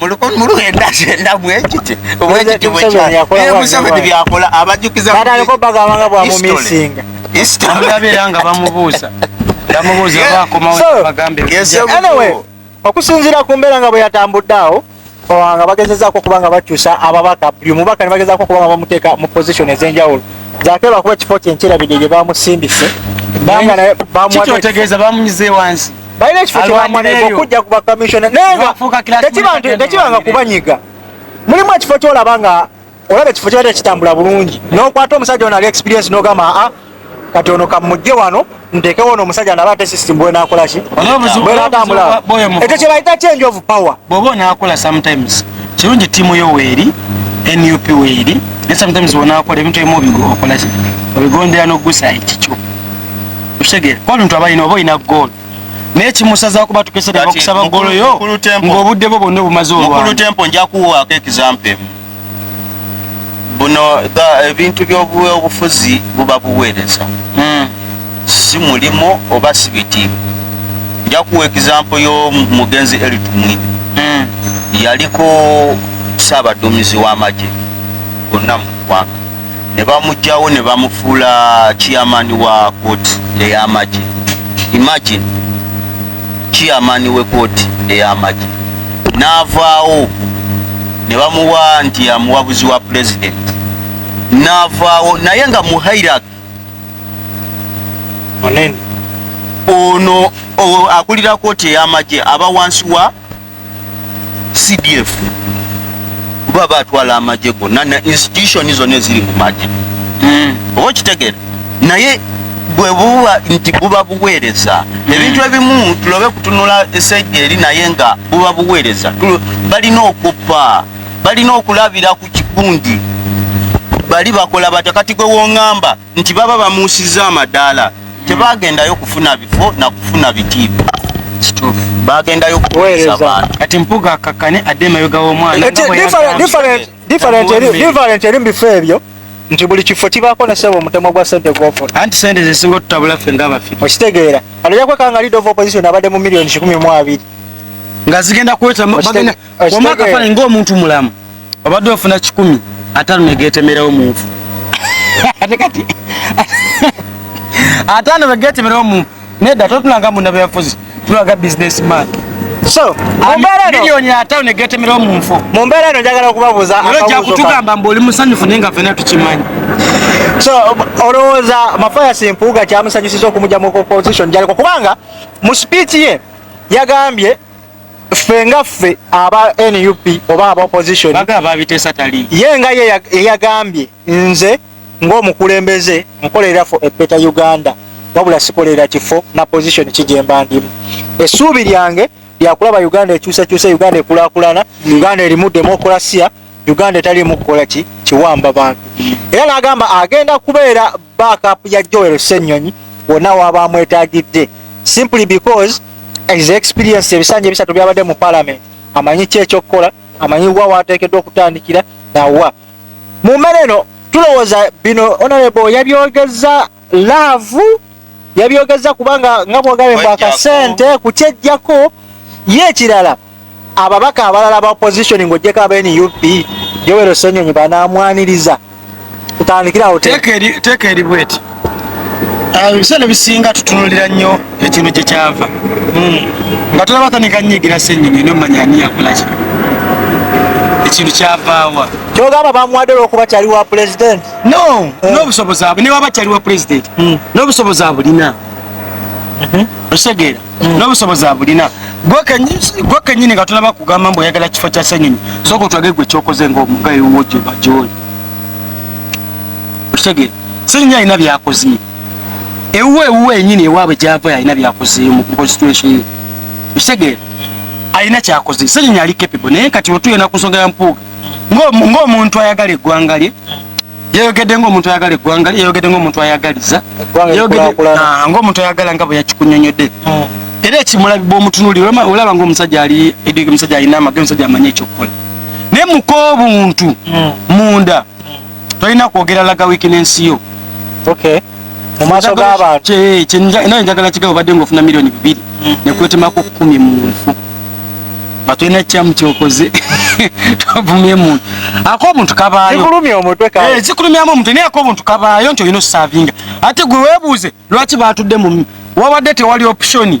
mulukmuluendaendamuekitibwekyakola abajukizabagabanga bwamumisinga isitabeera nga bamubuuza bamubuuza bakomaobagambe okusinziira ku mbeera nga bwe yatambudde awo nga bagezezaako okuba nga bakyusa ababaka buli omubaka ne bagezaako okuba nga bamuteeka mu position ez'enjawulo zake bakuba ekifo kyenkyerabidde gye bamusindise banga naye bamuwategeeza bamunyize wansi balina ekifo kyewamwanaiva okujja ku bakamisiona naye nga tekiba nga kubanyiga mulimu ekifo kyolaba nga olaba ekifo kyali tekitambula bulungi nokwata omusajja ono ali experience nogamba aa ah, kati ono kamujje wano ntekewo ono omusajja naba ate system bwe nakola ki bwe natambula ekyo kye bayita change of power bwoba onakola sometimes kirungi tiimu yo weeri nup weeri ne sometimes wonakola ebintu ebimu obigo okola ki obigondera nogusa ekikyo tutegere kuba bintu abalina oba olina goolo naye kimusaza kuba tukese ne bakusaba goolo yo ng'obudde bwo bwonna obumaze olwamukulu tempo nja kuwaako ekizampa emu buno ebintu by'obufuzi buba buweereza hmm. si mulimu oba si bitiibwa nja kuwa ekizampo y'omugenzi elitumwine hmm. yaliko saabaduumizi w'amagye gonna mu ggwanga ne bamugyawo ne bamufuula chairman wa kooti ey'amagye imagine chairman we kooti ey'amagye n'avaawo ne bamuwa nti amuwabuzi wa president n'avaawo naye nga mu hairak ono akulira kooti ey'amagye aba wansi wa CDF kuba batwala amagye gonna na institution zonna eziri mu magye hmm. oba okitegere naye bwe buba nti buba buweereza hmm. ebintu ebimu tulobe kutunula esegga eri naye nga buba buweereza balina okuppa balina okulabira ku kikundi bali bakola batya kati gwe wongamba nti baba bamuusizza amadaala tebagendayo kufuna bifo na kufuna bitiibwa bagendayo kuwereza bantu kati mpuga akakane adde emabega w'omwana different eri mu bifo ebyo nti buli kifo kibaako ne sebo omutemwa gwa sente gwofuna anti sente zesinga otutabula ffe nga bafi okitegeera kati ojakwekanga lead of opposition abadde mu millioni kikumi mu abiri nga zigenda kuwetamu wama akafaananyi ng'omuntu mulamu obadde ofuna kikumi ataano negeetemerewo munfu ate kati ataano begeetemerewo munfu nedda totulanga munda byafuzi tulaga business man so mumbeereromiliyoni ataano negeetemerewo munfu mu mbeera eno njagala okubabuuza ja kutugamba mbu oli musanyufu naye nga fena tukimanyi so olowooza mafayasi mpuuga kyamusanyusiza okumugya mu opposition gyaliko kubanga mu speech ye yagambye ffe nga ffe aba nup oba aba opposition ye nga ye eyagambye nze ng'omukulembeze nkolerera fo epeeta uganda wabula sikolerera kifo na position kijemba ndimu essuubi lyange lyakulaba uganda ekyusakyusa uganda ekulakulana uganda erimu demokurasiya uganda etaliimu kukola ki kiwamba bantu era n'agamba agenda kubeera backup ya Joel Ssenyonyi wonna waba amwetagidde simply because is experience ebisanja ebisatu byabadde mu parliament amanyi ki ekyokukola amanyi wa wateekeddwa okutandikira nawa mu mmere eno tulowooza bino honorable yabyogeza laavu yabyogeza kubanga nga bwogabye bwakasente kukyejjako ye ekirala Ababaka abalala ba opposition ng'ogyeko aba nup Yoweri Ssenyonyi banaamwaniriza tutandikira awo teeka eri bweti ah, ebiseera ebisinga tutunulira nnyo ekintu gye kyava hmm. nga tulaba tanika nyigira ssenyonyi nomanya ani yakolaki ekintu kyavaawa kyogamba bamuwadde olwokuba kyali wa pulezidenti no eh. nobusobozi abwe newaba kyali wa pulezidenti hmm. nobusobozi abulina mhm. otegeera mm. n'obusobozi abulina gwe kenyini nga tunaba kugamba mbu oyagala kifo kya senyonyi soka otwage gwe kyokoze nga omugayi wo gyoba gyoli okitegere senyonyi alina byakoze ewuwe ewuwe enyini ewaabwe gyava alina byakoze mu constitution ye okitegere alina kyakoze senyonyi ali capable naye kati wetuyena ku nsonga ya mpuuga ng'omuntu ayagala eggwanga lye yayogedde ngaomuntu ayagala eggwanga lye yayogedde ngaomuntu ayagaliza ah, ngaomuntu ayagala nga bwe yakikunyonyodde hmm. era ekimulabibwa omutunuli olaba ngaomusajja ali edige omusajja alina amage omusajja amanyi ekyokukola naye muka obuntu hmm. munda hmm. tolina kwogera laga wiiki n'ensi yo mu maaso g'abantu naye njagala kigabo badde ngaofuna miliyoni bibiri mm. nekwetemaku kumi mu nfu nga tulina ekyamu kyokoze tuvumye muntu ako omuntu kabaayosikulumya eh, mu omuntu naye ako omuntu kabaayo nti olina osavinga ate gwe weebuuze lwaki baatudde mu wabadde tewali optioni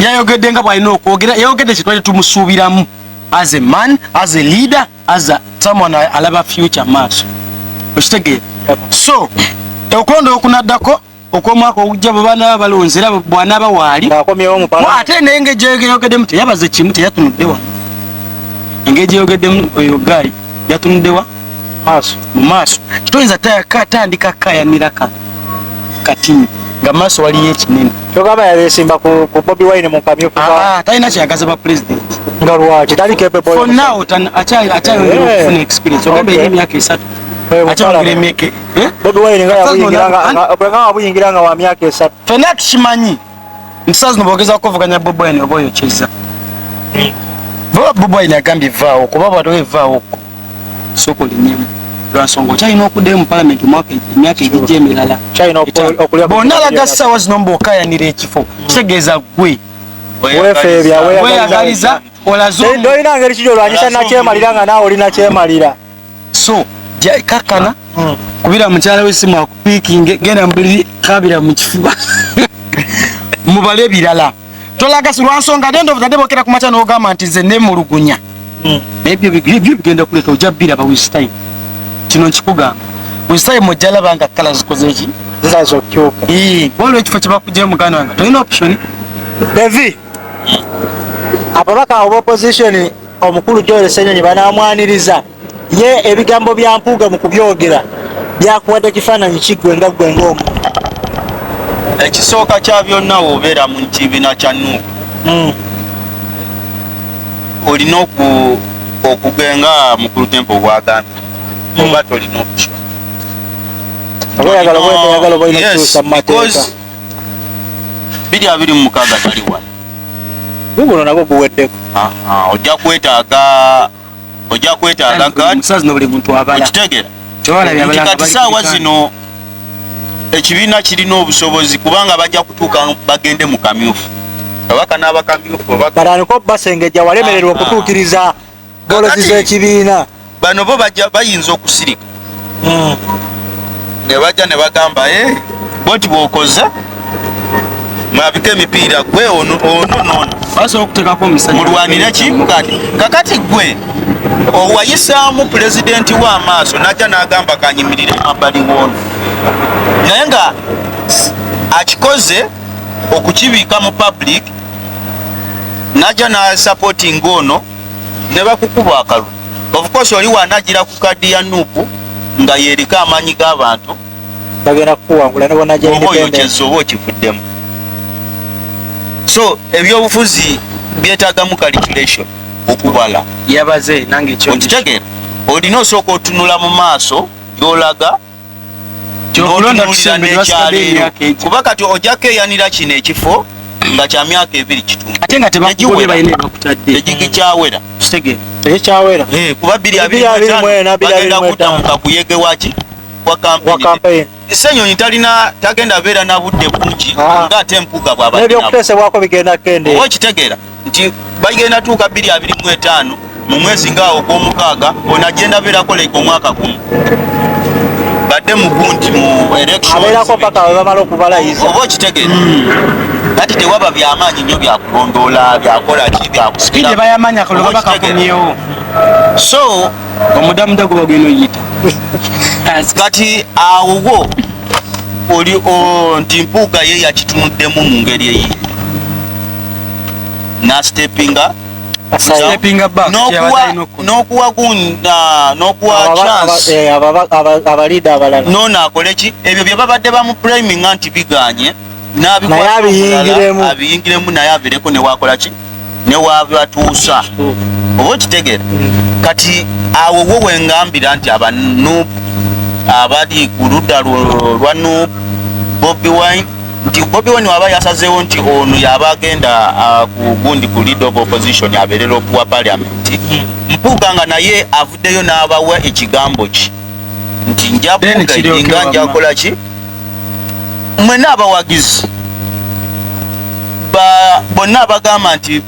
yayogedde nga bwalina okwogera yayogedde kyetwali tumusuubiramu as a man as a leader as a someone alaba future maaso okitegeera so okulonda okunaddako okwomwaka ogujja bwebanaba balonze era bwanaba waali ate naye nga ejeyogeddemu teyabaze kimu teyatunuddewa engeri gyeyogeddemu oyo gaali yatunuddewa maaso mu maaso toyinza katandika kayanira ka kati nga maaso waliyo ekinene kyogamba yabesimba ku bobi wine mukamyu ah, talina kyeyagaza ba president nga lwaki tali kepeonow akyayongera eh. okufuna experience ogamba eri emyaka esatu akyayongera emyaka eh? bobi wine nga yabuyingira nga wa myaka esatu fena tukimanyi nti saa zino bogeza kukuvuganya bobi wine oba oyo kiza baba bobi wine agambye vaawo kuba bwatoba evaawo ko soka olinyemu lwansonga okyalina okuddayo mu palamenti omwaka emyaka egijja emirala bonna alaga saawa zino mbaokayanira ekifo kitegeeza gwe weyagaliza olazoolina ngeri kiri olwanyisa nakyemalira nga naawe olina kyemalira so kakana mm. kubira mukyala we simu akupikinge genda mubuliri kabira mu kifuba mubale ebirala tolaga silwansonga dende obutadde bokera ku makya n'ogamba nti nze nemulugunya mm. naye byo bigenda kuleka ojja biraba wistime kino nkikugamba wistime ojja laba nga kala zikoze ki zazokyuka waliwo ekifo kyebakugye muganda wange tolina option devi ababaka abo bopposition Omukulu Joel Ssenyonyi banaamwaniriza ye ebigambo bya Mpuuga mu kubyogera byakuwadde kifaananyi ki ggwe nga ggwe ng'omu ekisooka kya byonna wobeera mu kibiina kya nuupu hmm. olina okugenga mukulu tempo bwagambye hmm. oba tolina okuswa birya biri mu mukaaga tali wala guguno nagwo guweddeko ojja kwetaaga ojja kwetaaga okitegeera kati saawa zino ekibiina kirina obusobozi kubanga bajja kutuuka bagende mu kamyufu kabaka n'abakamyufu baliko basengejja walemererwa okutuukiriza bolozi zekibiina bano bo bayinza okusirika hmm. nebajja nebagamba eh, boti bwokoze mwabika emipiira gwe ono nono basobola okutekako omusajja mulwanire ki kati kakati gwe owayisaamu pulezidenti wo amaaso najja n'agamba kanyimirire emabbali woono naye nga akikoze okukibiika mu public naja na supporting ono ne bakukuba akalu of course oli wanajira ku kadi ya nupu nga yerika amanyi g'abantu bagenda kukuwangula nebo naja independence oba okivuddemu so ebyobufuzi byetagamu calculation okubala yabaze nange kyo okitegera olina osooka otunula mu maaso gyolaga n'otunuulira n'ekyalo ero kuba kati ojja keeyanira kino ekifo nga kya myaka ebiri kituuegigikyawerakikuba eh, biri abiribagenda kudda mu kakuyege waki senyonyi talina tagenda beera na budde bungi ah. nga ate mpuga bwabaebyokuteesebwako bigenda kendeoba okitegeera nti bagenda tuuka bbiri abiri mu etaano mu mwezi ngaawo ogw'omukaaga ono agenda abeerako leka omwaka gumu badde mu gunti mu electionabeerako paka we bamala okubalayiza oba okitegere kati tewaba byamaanyi nnyo byakulondoola byakola ki byakusipiidi bayamanya kulwa bakakomyewo so omudamuda guba gwino yita kati awowo oli nti mpuuga ye yakitunuddemu mu ngeri eyi nasitepinga nokuwagunono akoleki ebyo byebabadde bamupriminga nti biganye nabiyingiremu naye abireko newakolaki newabatuusa oba okitegera hmm. kati awo wo wengambira nti abanup abali ku ludda lwa nup bobi wine nti Bobi Wine waba yasazeewo nti ono yaba agenda uh, ku gundi ku leader of opposition abeerera okuwa parliament Mpuuga nga naye avuddeyo n'abawa ekigambo ki nti nja nga njakola ki mwena abawagizi bonna abagamba nti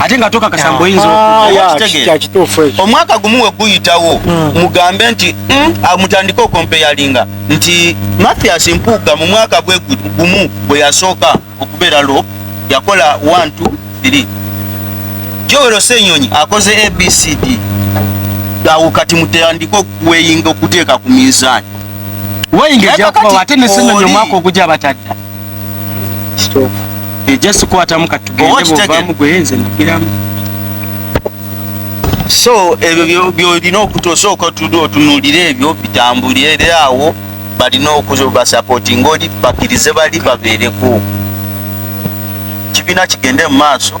ate nga tokakasa mbu oyinza ah, omwaka gumu we guyitawo hmm. mugambe nti hmm, ah, mutandike okompeyalinga nti mathias mpuuga mu mwaka gwe gumu bwe yasooka okubeera lo yakola 1 2 3 jowero senyonyi akoze abcd awo kati mutandike okuweyinga okuteeka ku minzaani weyinga ejakubawo ate nesenyonyi omwaka ogujja batadda so ebyo byolina okutosooka otude otunulira ebyo bitambulire awo balina okubasapoti ngaoli bakirize bali babeereko kibiina kigende mu maaso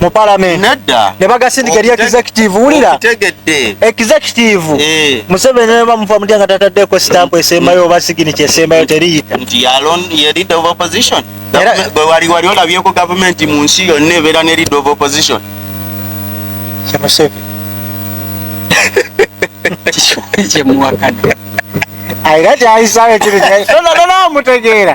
mu parliament nedda ne bagasindika eri executive wulira tegedde executive eh. museveni ne bamufa mutya nga tataddeko stamp esembayo oba signature esembayo teriyita nti yalon ye leader of opposition gwe wali wali olabyeko government mu nsi yonna ebeera ne leader of opposition kyamuseveni kyemuwakana ayira kyayisayo kiri tona tona mutegeera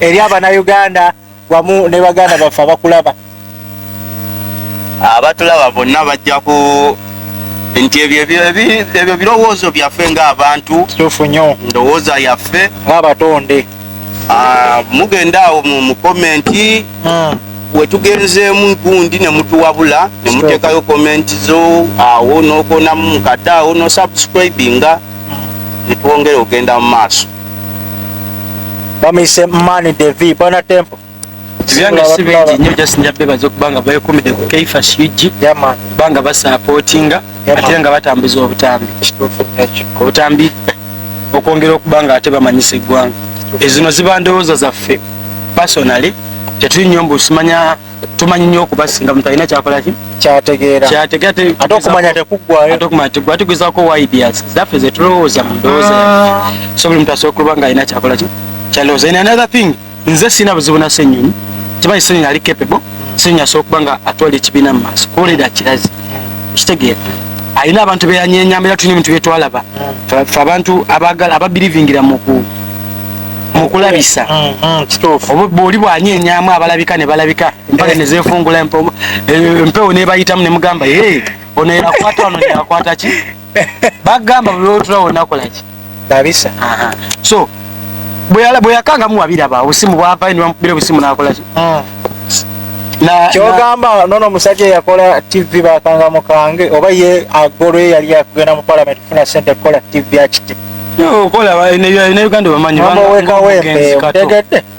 eri abanauganda wamu ne baganda baffe abakulaba abatulaba bonna bajja ku nti ebyo birowoozo byaffe ngaabantu tufu nyo ndowooza yaffe ngaabatonde ah, mugenda awo mu komenti hmm. wetugenzeemu gundi nemutuwabula nemuteekayo komenti zo awo nokonamu mukadde awo nosubscribinga hmm. netwongere ogenda mu maaso bamuyise mani devi bana tempo byange si bingi nnyo just nja bebaza okuba nga bekumide ku keifash ug kuba nga basapootinga ate nga batambuza obutambi obutambi okwongera okuba nga ate bamanyisa eggwanga ezino ziba ndowooza zaffe personally tetuli nnyo mbu simanya tumanyi nyo okubasinga muntu alina kyakolaki kyategeeraate okumanya tekuggwayoatugezako ideas zaffe zetulowooza mu ndowooza ah. so buli muntu asobola okuba nga alina kyakolaki kyalowooza in another thing nze sirina buzibu na senyonyi kimanyi senyonyi ali capable senyonyi asobola okuba nga atwala ekibiina mu maaso kuwulira kirazi kitegeera alina abantu beyanyenyamba era tulina ebintu byetwalaba fe abantu ababirivingira muku mukulabisa mm, mm, kituufu oli bwanya enyamu abalabika ne balabika mpale eh. nezefungula eh, empewo nebayitamu ne mugamba e ono yakwata wano yakwata ki bagamba bulotulawo nakolaki kabisa so bweyakangamu wabiraba obusimu bwavayo nebamukubira obusimu nakolaki mm. kyogamba nono omusajja eyakola tv bakanga mukange oba ye agolwe yali akugenda mu palamenti kufuna sente kukola tv akiti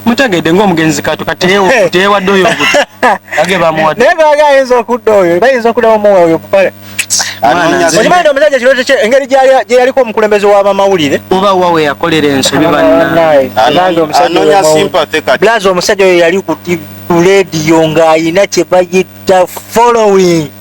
mutegedde ngaomugenzi kato kateyewadde oyo ayinza okudda oyo bayinza okuddamu omuwa oyo kupale okimanyi omusajja kirooto kye engeri gyeyaliko omukulembeze w'abamawulire oba wa we yakolera ensobi bannange omusajja oyo yali ku rediyo ng'ayina kye bayita following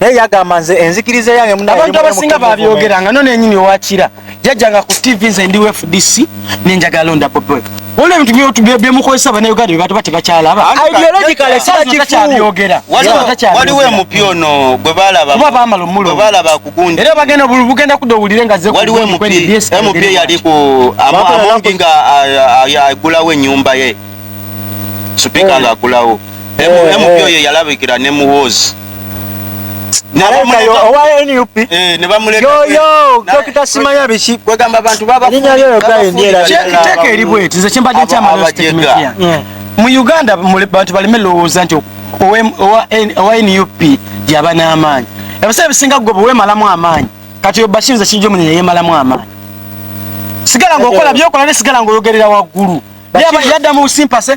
naye yagamba nze enzikiriza yange munabantu abasinga babyogera nga none nyini owakira jajjanga ku tv nze ndi fdc nenjagala londa popo waliwo ebintu byotubemukozesa banauganda bebatu bati bakyalaba ideologicale sakifubyogera waliwo emupi ono gwebalababa bamala omulbalaba kugundi era bagenda bugenda kuda owulire nga waliwo emupi eyali ku amungi nga agulawo enyumba ye supika nga agulawo MP oyo yalabikira ne muwoozi mu uganda bantu baleme lowooza nti owa nup yaba n'amaanyi ebiseera ebisinga gwe bwewemalamu amaanyi kati obashinza kijja omunye yeyemalamu amaanyi sigala ngaokola byokola ne sigala ngaoyogerera waggulu yadda mu busimpase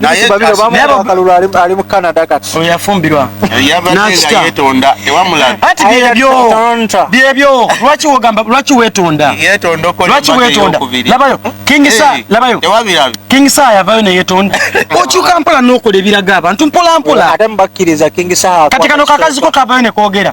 naye akalulu ali mu canada kati oyo yafumbirwa yabaddenga yetonda tewamulaga ati byebyo byebyo lwaki wogamba lwaki wetonda lwaki wetonda labayo kingisa labayo kingisa yavayo neyetonda okyuka mpola nokola ebiraga abantu mpola mpola ate mubakkiriza kingisa kati kano kakaziko kavayo nekogera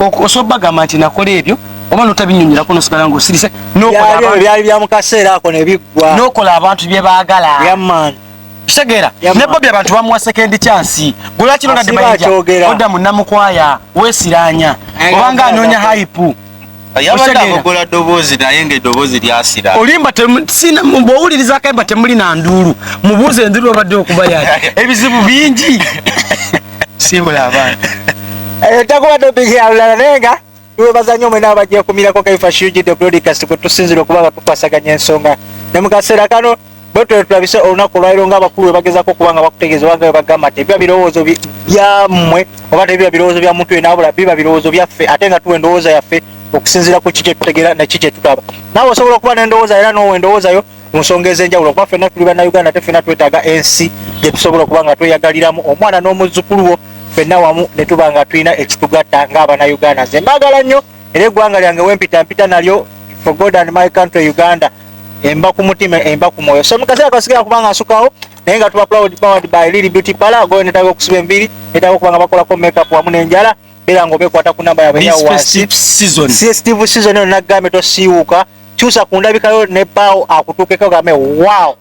osobola bagamba nti nakola ebyo oba notabinyonyerako nosigala nga osirise byali bya mukaseera ako nebiggwa nokola abantu bye baagala kitegeera ne bobi abantu bamuwa sekendi kyansi gwelwakirondademaija odda munamukwaya wesiranya obanga anoonya haipu yabadde abogola ddoboozi naye nga eddoboozi lyasira olimba bwowuliriza akayimba temuli na nduulu mubuuza enduulu obadde okuba ya ebizibu bingi simbula abaana eh, takubadde obigira lulala naye nga webaza nnyo mwena abajja kumirako kaifa shiujidde broadcast kwe tusinzira okuba nga tukwasaganya ensonga ne mu kaseera kano bwetwe tulabise olunaku olwaliro nga abakulu webagezako okuba nga bakutegeeza obanga webagamba nti ebiba birowoozo byammwe oba tebiba birowoozo bya muntu yena abula biba birowoozo byaffe ate nga tuwa endowooza yaffe okusinziira ku ki kyetutegeera naki kyetutaba naawe osobola okuba n'endowooza era noowa endowoozayo mu nsonga ez'enjawulo kuba fenna tuli bannauganda ate fenna twetaaga ensi gyetusobola okuba nga tweyagaliramu omwana n'omuzzukulu wo fenna wamu ne tuba nga tulina ekitugatta ng'abanauganda nze mbaagala nnyo era eggwanga lyange wempita mpita nalyo for god and my country uganda emba ku mutima emba ku mwoyo so mukaseera kasigala kubanga nsukawo naye nga tuba proud powered by lili beauty pala goyo netaga okusiba enviri netaga okubanga bakolako makeup wamu nenjala beera nga obekwata ku namba yabwe yawasistive season eyo nagambye tosiiwuka kyusa ku ndabikayo ne baawo akutuukeko game wow